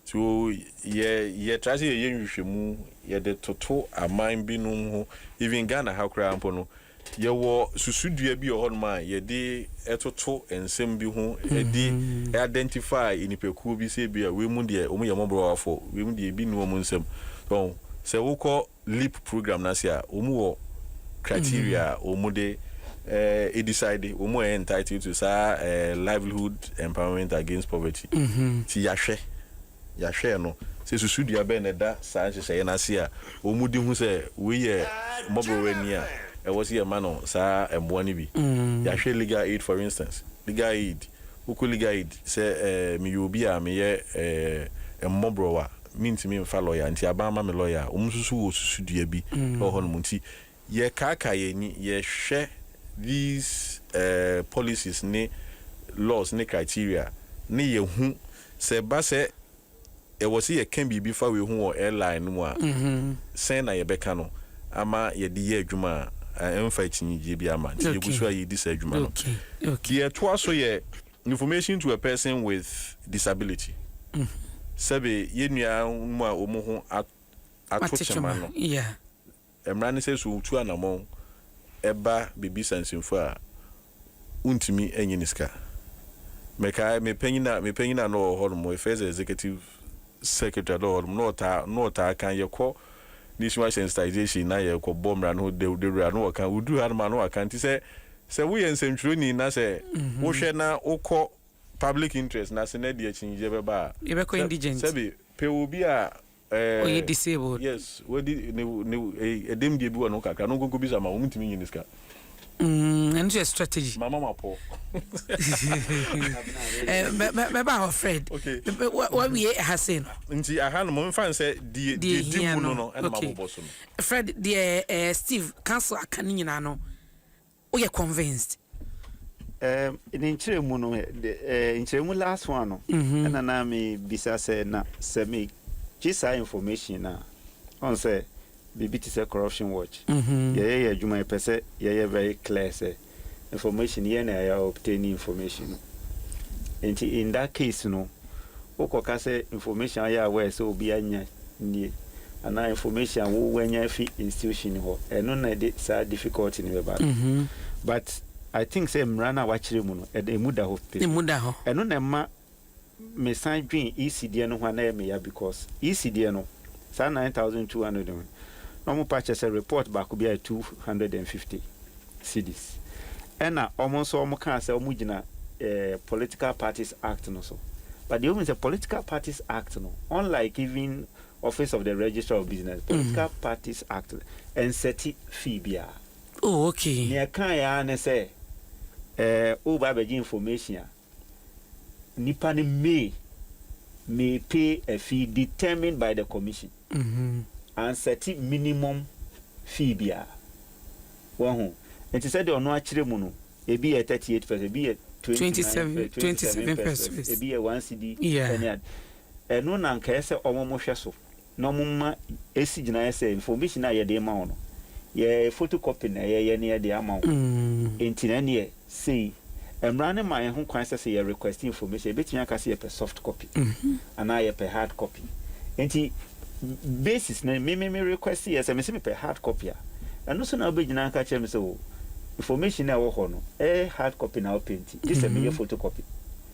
So yɛ yɛtra sɛ yɛyɛ nhwehwɛmu yɛde toto aman binom ho, even Ghana ha koraa mpo no, Yɛwɔ susudua bi wɔ hɔnom a yɛde toto nsɛm bi ho de identify nnipakuo bi sɛ ebia wei mu deɛ wɔyɛ mmɔborɔwafo, wei mu deɛ ebi nni wɔn nsam. So ɔho? Sɛ wokɔ LEAP program no ase a, wɔwɔ criteria a wɔde eh, decide wɔn a ɛyɛ entitled to saa eh, livelihood empowerment against poverty. Nti yɛahwɛ. Yɛahwɛ no sɛ susudua bɛn na ɛda saa nhyehyɛe no ase a wɔde hu sɛ wei yɛ mmɔborɔwa ani a ɛwɔ sɛ yɛma no saa mmoa no bi. Yɛahwɛ Legal Aid for instance, Legal Aid, wokɔ Legal Aid sɛ meyɛ obi a meyɛ mmɔborɔwa, mentumi mfa lɔya nti aban ma me lɔya a, wɔsusu wɔ susudua bi wɔ hɔnom nti, Yɛ kaakaa yɛ ani yɛ hwɛ these eh policies ne laws ne criteria ne yɛ hu sɛ ɛba sɛ yɛ wɔ sɛ yɛ ka biribi fa wei ho wɔ airline no mu a sɛn na yɛ bɛ ka no ama yɛ de yɛ adwuma a ɛmfa akyinnyegyeɛ biara ma nti yɛ gu so a yɛ di saa adwuma no. Deɛ ɛtoa so yɛ information to a person with disability sɛbe yɛ nua nom a wɔn ho ato kyema no. Mmara ne sɛ sɛ otu anamɔn ba baabi sansimfo a, wontumi nnye ne sika. Mekae me panyin a me panyin a na ɔwɔ hɔnom, yɛfrɛ sɛ executive secretary a na ɔwɔ hɔnom, na ɔtaa na ɔtaa ka yɛkɔ Nationwide Sensitisation na yɛkɔbɔ mmara no ho daw dawuru a, na ɔka wodu hanom a na waka nti sɛ sɛ woyɛ nsɛntwerɛni na sɛ wohwɛ na wokɔ public interest no ase na ɛde akyinnyegyeɛ bɛba a, sɛ sɛbe pɛ obi a Ɔyɛ disabled. Yes wadi ne ne ɛdɛm deɛ bi wɔ ne ho kakra no nkonko bi sa ma wɔn ntumi nyi ne sika. Mm, ɛno nso yɛ strategy. Mama ma pɔ. Mɛba hɔ Fred. Wawie ɛha sei no. Nti aha no momfa n sɛ deɛ di mu no no ɛna mabobɔ so no. Fred deɛ Steve council aka no nyinaa no Woyɛ convinced? Ɛɛm ne nkyerɛmu no de ɛɛ nkyerɛmu last one no ɛna na me bisa sɛ na sɛ me gye saa information no a ɔn sɛ biribi te sɛ corruption watch yɛ yɛ yɛ adwuma yɛ pɛ sɛ yɛ yɛ very clear sɛ information yɛ na yɛ obtain information no nti in that case no wo kɔ ka sɛ information a woyɛ aware sɛ obi anya nie anaa information a wo wanya afi institution hɔ ɛno na ɛde saa difficulty no bɛba no but I think sɛ mmara no a wakyerɛ mu no ɛmu da hɔ pɛ mu ɛno na ɛma me san dwen EC deɛ no ho a na ɛyɛ me ya because EC deɛ no Saa nine thousand two hundred no, na wɔn pa kyɛ sɛ report baako biara yɛ two hundred and fifty cedis. Ɛna wɔn nso wɔn kaa sɛ wɔn gyina eh, Political Parties Act no so. But deɛ wɔn sɛ Political Parties Act no, unlike even Office of the Registrar of Business, Political Parties Act no, ɛnsɛte fee biara. Oh, okay. Nea ɛkaeɛ ara ne sɛ, eh, woba abɛgye information a, Nnipa no may may pay a fee determined by the Commission. Ansɛte minimum fee biara. Wahu? Nti sɛdeɛ ɔno akyerɛ mu no, ebi yɛ thirty eight pesewas, ebi yɛ twenty nine, twenty seven pesewas, ebi yɛ one cedi ne ade. Ɛno na nka ɛsɛ sɛ wɔhwɛ so. na wɔma esi gyinaeɛ sɛ information a yɛde rema wo no, yɛ photocopy na yɛyɛ na yɛde ama wo, enti na ɛneɛ sei, mmara no ma yɛn ho kwan sɛ sɛ yɛ request information, yɛbɛtumi aka sɛ yɛpɛ soft copy anaa yɛpɛ hard copy. Enti basis no me me me request yɛ sɛ mese mepɛ hard copy a, ɛno so na wobɛgyina aka kyerɛ me sɛ oh, information a ɛwɔ hɔ no, ɛyɛ hard copy na wopɛ nti, gye sɛ meyɛ photocopy.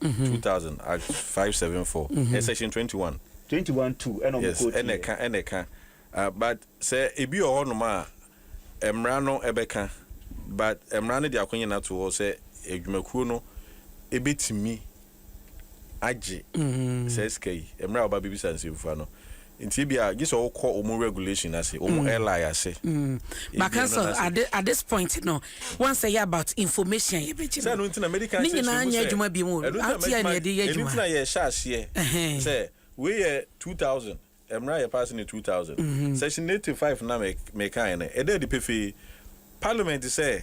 two thousand, Act five seven four, ɛ section twenty one. Twenty one two ɛna ɔmo quote yɛ. Yes, ɛna ɛka ɛna ɛka, ah but sɛ ebi wɔ hɔ nom a mmara no ɛbɛka but mmara no de akonyina to hɔ sɛ adwumakuo no ebetumi agye saa sika yi, mmrɛ a ɔba bebisa nsɛmfua no Nti ebia gye sɛ wokɔ wɔn regulation ase, wɔn LI ase. Baka nso at this point no wansɛ yɛ about information a yɛbɛgye no. Ne nyinaa nyɛ adwuma bio mu. Ate a na yɛde yɛ adwuma. Ɛno nti na yɛhyɛ aseɛ sɛ wei yɛ two thousand, mmara a yɛpaase no yɛ two thousand. Section eighty five no a mekaeɛ no, ɛda adi pefee. Parliament sɛ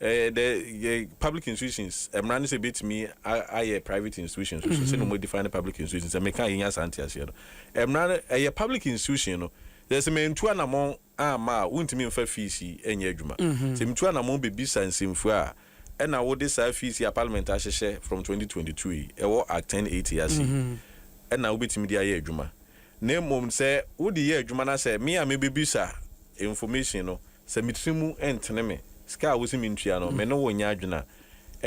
Ɛɛ dɛ yɛ public institutions mmara ne sɛ ebetumi ayɛ private institutions nso sɛnea wɔn define ne public institutions sɛ meka yɛnya saa nteaseɛ no mmara no ɛyɛ public institution no yɛ sɛ mɛntu anamɔn amma a wontumi nfa fees yi ɛnyɛ adwuma sɛ metu anamɔn bɛbisa nsɛmfua a ɛna wode saa fees yi a parliament ahyehyɛ from 2022 yi ɛwɔ act 1080 ase yi ɛna wobɛtumi de ayɛ adwuma Na mmom sɛ wode yɛ adwuma na sɛ me a mebebisa information no sɛ me tiri mu ntene me sika a wose mentua no me ne wo nyɛ adwene a,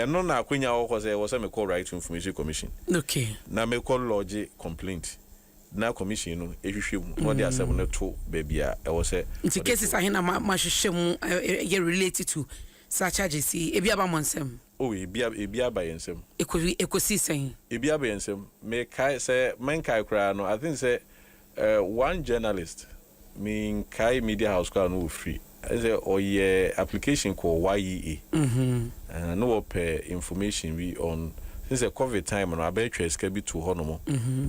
ɛno na akwanya wɔ hɔ sɛ ɛwɔ sɛ mekɔ Right to Information Commission na mekɔ lodge complaint na Commission no hwehwɛ mu na ɔde asɛm no to baabi a ɛwɔ sɛ ɔde to. Nti cases ahe na moahwehwɛ mu yɛ relate to saa charges yi? Ebi aba mo nsam? Oh, ebi a, ebi aba yɛn nsam. Ɛkɔ, ɛkɔsii sɛn? Ebi aba yɛn nsam. Mekae, sɛ menkae koraa no, I think sɛ eh, one journalist, menkae Media House koraa a na ɔfiri, I think sɛ ɔyɛ application kɔɔ YEA, eh, na ɔpɛ information bi on, I think sɛ Covid time no, abɛɛtwɛɛ sika bi too hɔnom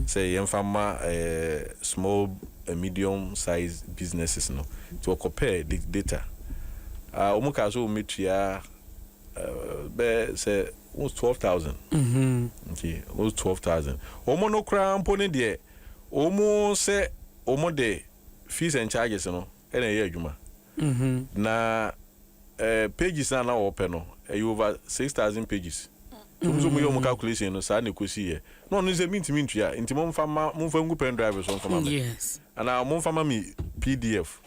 sɛ yɛmfa mma eh, small and medium size businesses no, nti ɔkɔpɛɛ da, data. Ah, wɔn kaa sɛ wɔn bɛtua bɛyɛ sɛ wo twelve thousand mm-hmm. nti wo twelve thousand wɔn no koraa mpo ne deɛ wɔn sɛ wɔn de fees and charges no ɛna ɛyɛ adwuma mm-hmm. na ɛɛ pages na na wɔpɛ no ɛyɛ over six thousand pages wɔn nso wɔn yɛ wɔn calculation no saa na ekosi yɛ na wɔn nso mi ntumi ntua nti mo nfa ma mo nfa ngu pen drive so nfa ma mi anaa mo nfa ma mi pdf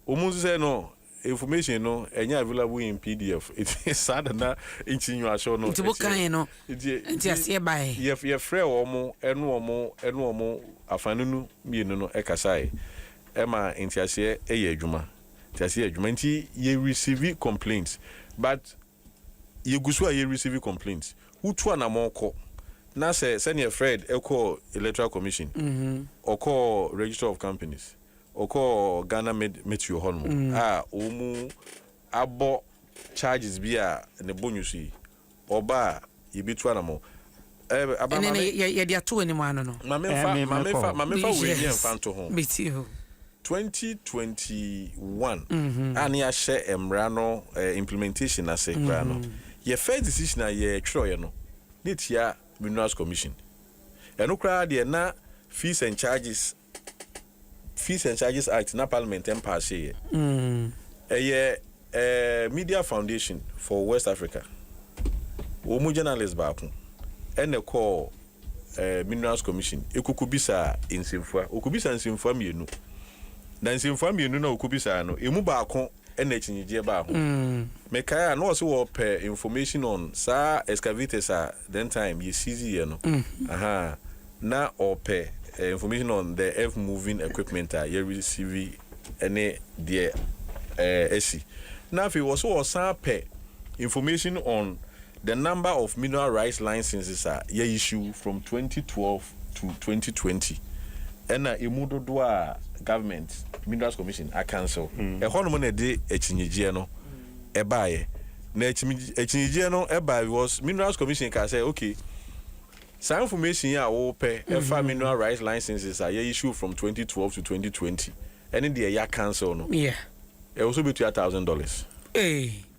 wɔn nso sɛ no. Information no ɛnyɛ available in pdf nti saa na na nti nyoahyɛw no. Nti wokae no nti aseɛ bae. Yɛfrɛɛ wɔn ɛne wɔn ɛne wɔn afanunu mmienu no ɛkasae ɛma nteaseɛ ɛyɛ adwuma nteaseɛ yɛ adwuma nti yɛ receive complaints but yɛgu so a yɛ receive complaints wotu anamɔn kɔ na sɛ sɛdeɛ Fred ɛkɔɔ electoral commission ɔkɔɔ register of companies Ɔkɔɔ Ghana Mid Metro hɔ nom a wɔn abɔ charges bi a ne bo nyusu yi, ɔba a yɛbɛtu anamɔ. Ɛɛ, Abena maame. Ɛne no yɛde ato w'anim ano no. Maame nfa, maame nfa, maame nfa wei nyɛ nfa nto ho. Meti hɔ. 2021 a ne yɛahyɛ mmara no implementation ase koraa no, yɛ first decision a yɛtwerɛeɛ no, ne tia Minerals Commission. Ɛno koraa deɛ na fees and charges Fees and Charges Act na Parliament mpaaseyɛ. Ɛyɛ Media Foundation for West Africa. Wɔn mu journalist baako na ɛkɔɔ Minerals Commission kɔkɔbisaa nsɛmfua. Wɔkɔbisaa nsɛmfua mmienu, na nsɛmfua mmienu no a wɔkɔbisaa no, ɛmu baako ɛna akyinnyegyeɛ baa ho. Mekae a na wɔse wɔpɛ information on saa excavators a then time yɛ seize yɛ no, ahaa, na wɔpɛ information on the earth moving equipment a yɛ receive ne deɛ ɛɛ asi. Na afei wɔse wɔsan pɛ information on The number of mineral rights licenses a yɛ issue from twenty twelve to twenty twenty ɛna ɛmu dodoɔ a government minerals commission a cancel ɛhɔ nom na ɛde akyinnyegyeɛ no baeɛ na akyinnyegyeɛ no baeɛ because minerals commission kaa sɛ okay saa information yi a wo pɛ ɛfa mineral rights licenses a yɛ issue from twenty twelve to twenty twenty ɛne deɛ yɛ cancel no ɛwɔ sɛ wobɛtua thousand dollars.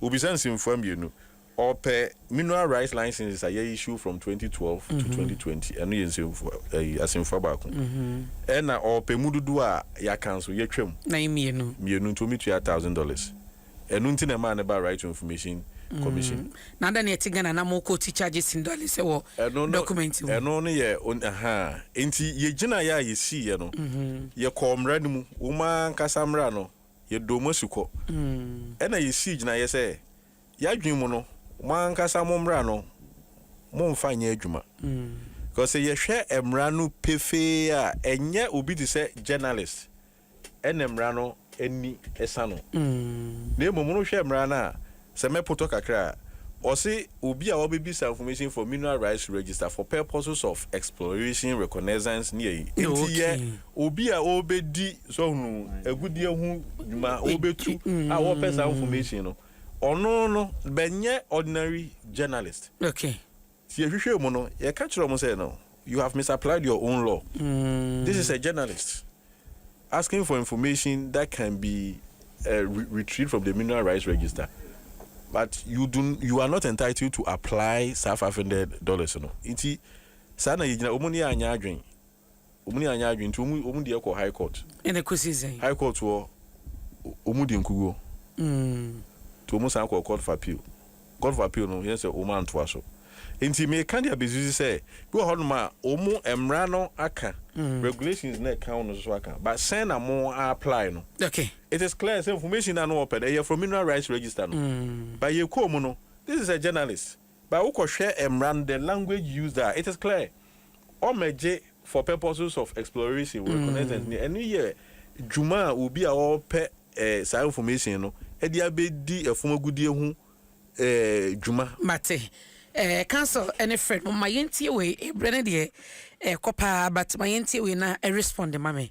Wobisa nsɛmfua mmienu. Ɔpɛ mineral rights licenses a yɛissue from twenty twelve to twenty twenty, ɛno yɛ nsɛmfua ɛyi asɛmfua baako. Ɛna ɔpɛ mu dodoɔ a yɛaka nso yɛatwa mu. Nan mmienu. Mmienu nti wɔtua thousand dollars. Ɛno nti na ɛmaa no baa right to information commission. Na adɛn na ɛte Ghana na mo court charges ndɔle sɛ wɔ Ɛno no document mu? ɛno no yɛ on ahaa. Nti yɛgyinaeɛ a yɛsiiɛ no yɛkɔɔ mmara no mu. Wɔn ankasa mmara no yɛdɔɔ mo asukɔ. Ɛnna yesii gyinaeɛ sɛ, Yɛadwene mu no, mo ankasa mo mmara no, momfa nyɛ adwuma. Because sɛ yɛhwɛ mmara no pefee a, ɛnyɛ obi te sɛ journalist na mmara no ani sa no, na mmom wohwɛ mmara no a, Sɛ mɛpotɔ kakra a, wɔse obi a ɔbɛbisa information for mineral rights register for purposes of exploration, reconnaissance ne ayi nti yɛ obi a ɔrebɛdi sɛ ɔhunu agudeɛ ho dwuma ɔrebɛtu a wɔpɛ saa information no, ɔno no bɛnyɛ ordinary journalist. Nti yɛhwehwɛɛ mu no, yɛka kyerɛɛ wɔn sɛ, no, you have misapplied your own law. This is a journalist asking for information that can be retrieved from the mineral rights register but you do, you are not entitled to apply saa five hundred dollars no. Nti saa na yɛgyina, wɔn ne yɛn anyɛ adwene Wɔn ni anyɛ adwene nti wɔn wɔn deɛ kɔ high court. Ɛna kɔsi sɛn? High court hɔ wɔn di nkuguo. Nti wɔn san kɔɔ court of appeal. Court of appeal no yɛn sɛ wɔn antoa so. Nti meka de abɛsisi sɛ bi wɔ hɔ nom a wɔn mmara no aka, regulations no a ɛka ho no nso aka but sɛn na mo a apply no. Okay. It is clear sɛ information no a na wɔpɛ no ɛyɛ from mineral rights register no but yɛkɔɔ mu no this is a journalist. But wokɔhwɛ mmara no, the language used a, it is clear. Wɔmmɛgye for purposes of exploration, reconnaissance ni. Ɛno yɛ dwuma a obi a ɔrepɛ saa information no de abɛdi fam agudeɛ ho dwuma. Mate. Eh, counsel ne frɛ no ma yɛntie wei. Berɛ no deɛ ɛrekɔ paa but ma yɛntie wei na respond ma me.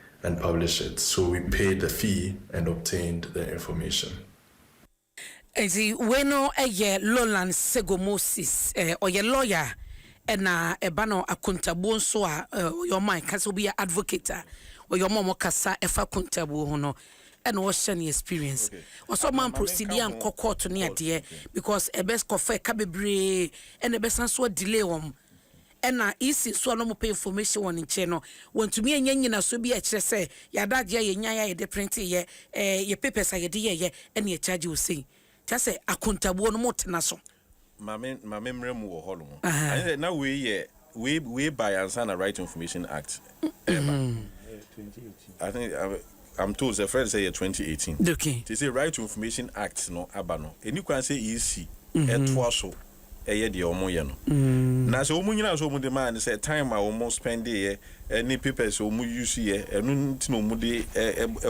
and publish it so we paid the fee and obtained the information. Nti wei no yɛ Lowland Sego Moses eh, ɔyɛ lawyer a ɛna ɛba no akontabuo nso a eh, ɔyɛ ɔma ɛka sɛ obi yɛ advocate a ɔyɛ ɔma ɔmo kasa ɛfa akontabuo ho no ɛna ɔhyɛ ne experience ɔsɛ ɔma mprosidi ankɔ court ne adeɛ because ɛbɛ kɔfa ɛka bebree ɛna ɛbɛsan so adelay wɔn Ɛna isi so a na wɔpɛ information wɔ ne nkyɛn no, wɔantumi anya nnyinasoɔ bi a ɛkyerɛ sɛ yɛn adagyeɛ a yɛnyaeɛ a yɛde printeeɛ, ɛɛ yɛn papers a yɛde yɛeɛ ɛna yɛcharge wo sei. Nti asɛ akontabuo no motena so. Ma me ma me mmra mu wɔ hɔnom. Anyɛ sɛ na wei yɛ wei wei baeɛ ansa na Right to Information Act ɛreba. Ɛyɛ twenty eighteen. I think I'm I'm told sɛ ɛfrɛ no sɛ ɛyɛ twenty eighteen. Okay. Nti sɛ Right to Information Act no aba no, ɛni kwan sɛ EC ɛtoa so. yɛ deɛ ɔmo yɛ no na sɛ ɔmo nyinaa sɛ ɔmo de maa no sɛ time a ɔmo spɛnde yɛ ɛne papers a ɔmo use yɛ ɛno nti na ɔmo de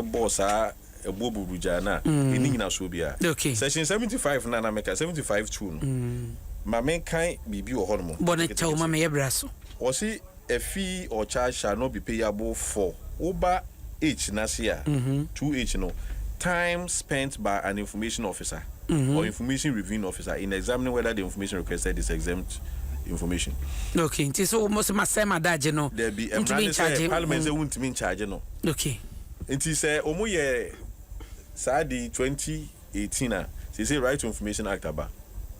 bɔɔ saa ɛboɔ buburugyaa no a ɛni nyinasoɔ biara section seventy five no a na meka seventy five two no ma menkan biribi wɔ hɔ nom bɔ no kyɛw ma meyɛ bra so ɔse Efi Ɔkyasha no bi peyabo fɔ wo ba H n'ase a, two H no, time spent by an information officer or information reviewing officer in examining whether the information requested is exempt information. Okay, nti so wɔn sɛ ma sɛ ma da agye no, Dabi, mmara ntumi ne sɛ nkyagye. parliament sɛ wontumi nkyagye no. Okay. Nti sɛ wɔyɛ saa ade yi twenty. eighteen a seesei Right to Information Act aba,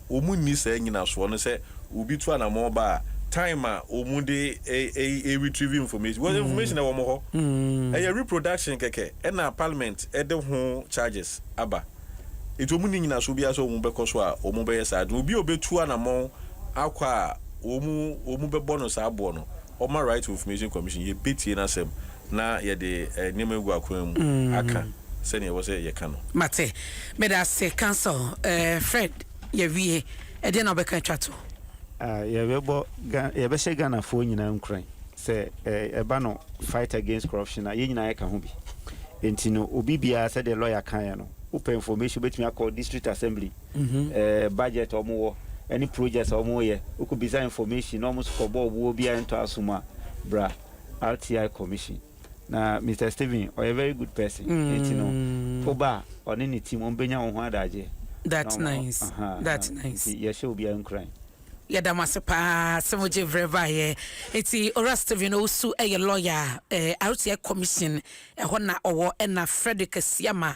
wɔnni saa nyinasoɔ no sɛ obi tu anamɔn ba a time a wɔde ɛ retrieve information because information ɛwɔ wɔn hɔ, ɛyɛ reproduction kɛkɛ ɛna parliament ɛde ho charges aba nti wɔnni nyinasoɔ biara sɛ wɔbɛkɔ so a wɔbɛyɛ saa adwuma. Obi a ɔbɛtu anamɔn akɔ a wɔbɛbɔ no saa boɔ no Ɔma Right to Information Commission, yɛbɛtie n'asɛm na yɛde nneɛma agu akwan mu aka sɛdeɛ ɛwɔ sɛ yɛka no. Mate. Medase, Counsel. Eh, Fred, yɛawie. Ɛdeɛn na wobɛka atwa toɔ? Ah, yɛbɛbɔ Ga, yɛbɛhyɛ Ghanafoɔ nyinaa nkuran sɛ ɛ, ɛba no fight against corruption a, yɛn nyinaa yɛka ho bi. Enti no, obi biara, sɛdeɛ lɔya kaeɛ no, wopɛ information, wobɛtumi akɔ District Assembly, budget a wɔwɔ ne projects a wɔyɛ, wokɔ bisa information na wɔn so kɔ bɔ ɔboɔ obiara ntɔ aso mu a, bra RTI commission. Na Mister Stephen ɔyɛ very good person, nti no woba a ɔne ne team wɔn bɛnya wo ho adagyeɛ. That nice, that nice. Nti yɛhyɛ obiara nkuran. Yɛda mo ase paa sɛ mo gye vrɛ baeɛ. Nti Owura Stephen Owusu yɛ lawyer a, RTI commission ɛhɔ na ɔwɔ, ɛna Frederick Asiamah